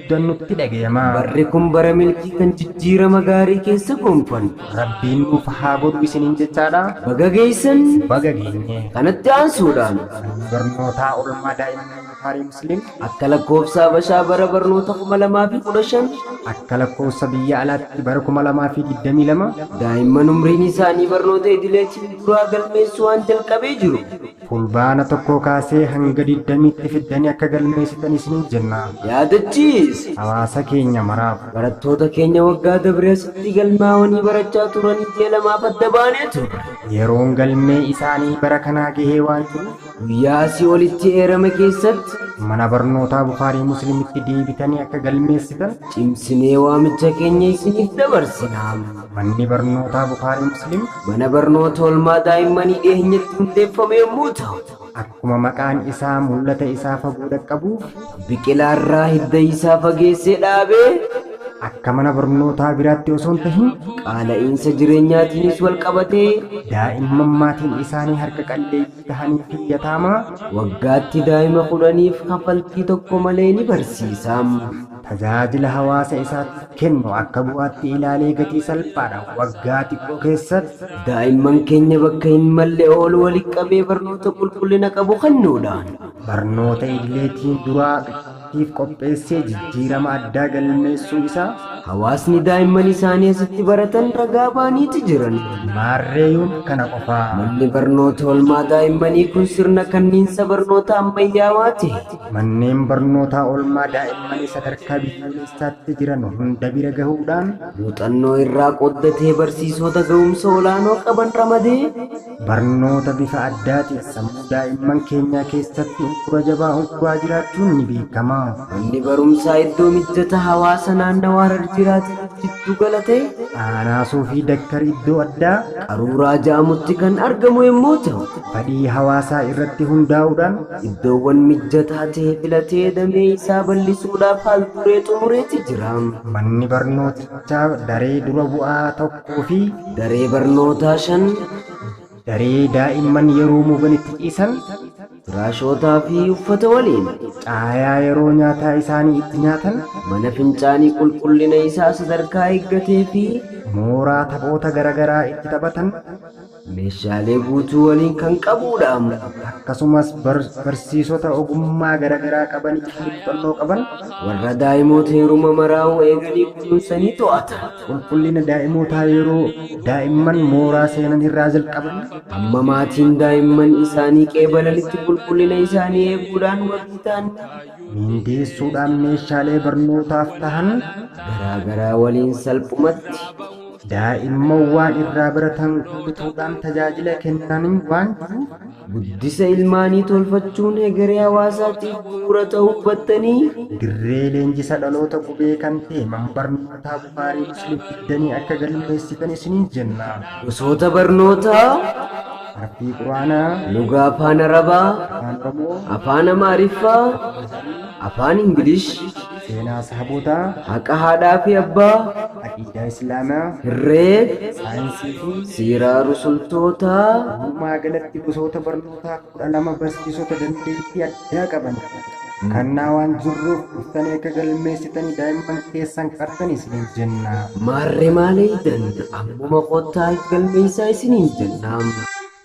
guddan nutti dhagayamaa. Barri kun bara milkii kan jijjiirama gaarii keessa gonfannu. Rabbiin nuuf haa godhu isiniin jechaadha. Baga geessan! Baga geenye! Kanatti aansuudhaan. Manni barnootaa Oolmaa Daa'immanii Bukaarii Musliim. Akka lakkoofsa Habashaa bara barnoota 2015. Akka lakkoofsa biyya alaatti bara 2022. Daa'imman umriin isaanii barnoota idileetiin duraa galmeessuu waan jalqabee jiruuf. Fulbaana 1 kaasee hanga 20tti fiddanii akka galmeessitan isiniin jenna. Yaadachiisi! Hawaasa keenya maraaf. Barattoota keenya waggaa dabre asitti galmaawanii barachaa turanii ji'a lamaaf adda baanee turre. Yeroon galmee isaanii bara kanaa gahee waan jiruuf. Guyyaa asii olitti eerame keessatti. Mana Barnootaa Bukhaarii Muslimitti deebitanii akka galmeessitan. cimsinee waamicha keenya isiniif dabarsina. Manni Barnootaa Bukhaarii Muslim. Mana barnoota oolmaa daa'immanii dhiheenyatti hundeeffame yommuu ta'u. Akkuma maqaan isaa mul'ata isaa fagoo dhaqqabuuf. Biqilaa irraa hidda isaa fageessee dhaabee. Akka mana barnootaa biraatti osoo hin tahin. Qaala'iinsa jireenyaatiinis wal qabatee. Daa'imman maatiin isaanii harka qalleeyyii tahanii fi yataamaa. Waggaatti daa'ima kudhaniif kafaltii tokko malee ni barsiisa. tajaajila hawaasa isaaf kennu akka bu'aatti ilaalee gatii salphaadhaan waggaa xiqqoo keessatti daa'imman keenya bakka hin malle oolu walitti qabee barnoota qulqullina qabu kennuudhaan. barnoota idileetiin duraa tiif qopheessee jijjiirama addaa galmeessuu isaa. Hawaasni daa'imman isaanii asitti baratan ragaa ba'aniiti jiran. Maarree yoom kana qofaa? Manni barnoota olmaa daa'immanii kun sirna kanniinsa barnoota ammayyaawaa ta'e Manneen barnootaa oolmaa daa'immanii sadarkaa biyyoolessaatti jiran hunda bira gahuudhaan muuxannoo irraa qooddatee barsiisota ga'umsa olaanoo qaban ramadee barnoota bifa addaatiin sammuu daa'imman keenyaa keessatti uggura jabaa ugguraa jiraachuun ni beekama. Manni barumsaa iddoo mijjata hawaasa naannawaa Harar jiraataniif jiddu gala ta'e Aanaasoo fi Dakkar iddoo addaa qaruuraa ja'amutti kan argamu yommuu ta'u, fedhii hawaasaa irratti hundaa'uudhaan iddoowwan mijjataa ta'e filatee damee isaa bal'isuudhaaf haal duree xumureeti jira. Manni barnootichaa daree dura bu'aa tokkoo fi daree barnootaa shan, daree daa'imman yeroo moogan itti ciisan, firaashootaa fi uffata waliin, caayaa yeroo nyaataa isaanii itti nyaatan, mana fincaanii qulqullina isaa sadarkaa eeggatee fi. mooraa taphoota garagaraa itti taphatan, Meeshaalee guutuu waliin kan qabuudha. Akkasumas barsiisota ogummaa garagaraa qabanii fi muuxannoo qaban. Warra daa'imoota yeruma maraa'uu eeganii kunuunsanii to'ata. Qulqullina daa'imootaa yeroo daa'imman mooraa seenan irraa jalqabanii. Hamma maatiin daa'imman isaanii qeebalanitti qulqullina isaanii eeguudhaan wabii ta'an ni. Miindeessuudhaan meeshaalee barnootaaf tahan. garaagaraa waliin salphumatti. Daa'imman waan irraa baratan kutuudhaan tajaajila kennanii waan jiruuf, guddisa ilmaanii tolfachuun hegeree hawaasaatiif bu'uura ta'uu hubattanii, dirree leenjisa dhaloota qubee kan ta'e Mana Barnootaa Bukhaarii Muslim fiddanii akka galmeessitan isiniin jenna. Gosoota barnootaa, Harfii Qur'aanaa, Lugaa Afaan Arabaa, Afaan Oromoo, Afaan Amaariffaa, Afaan Faajjii, Afaan Ingilish, Seenaa Sahabootaa, Haqa Haadhaa fi Abbaa, Aqiidaa Islaamaa, Herreeg, Saayinsii fi Siiraa Rusultootaa. Walumaa galatti gosoota barnootaa 12 barsiisota dandeettii addaa qaban kannaa waan jirruuf dhuftanii akka galmeessitanii daa'imman keessan qartan isiniin jenna. Maarree maal eeydan ammuma kottaa if galmeessaa isiniin jenna.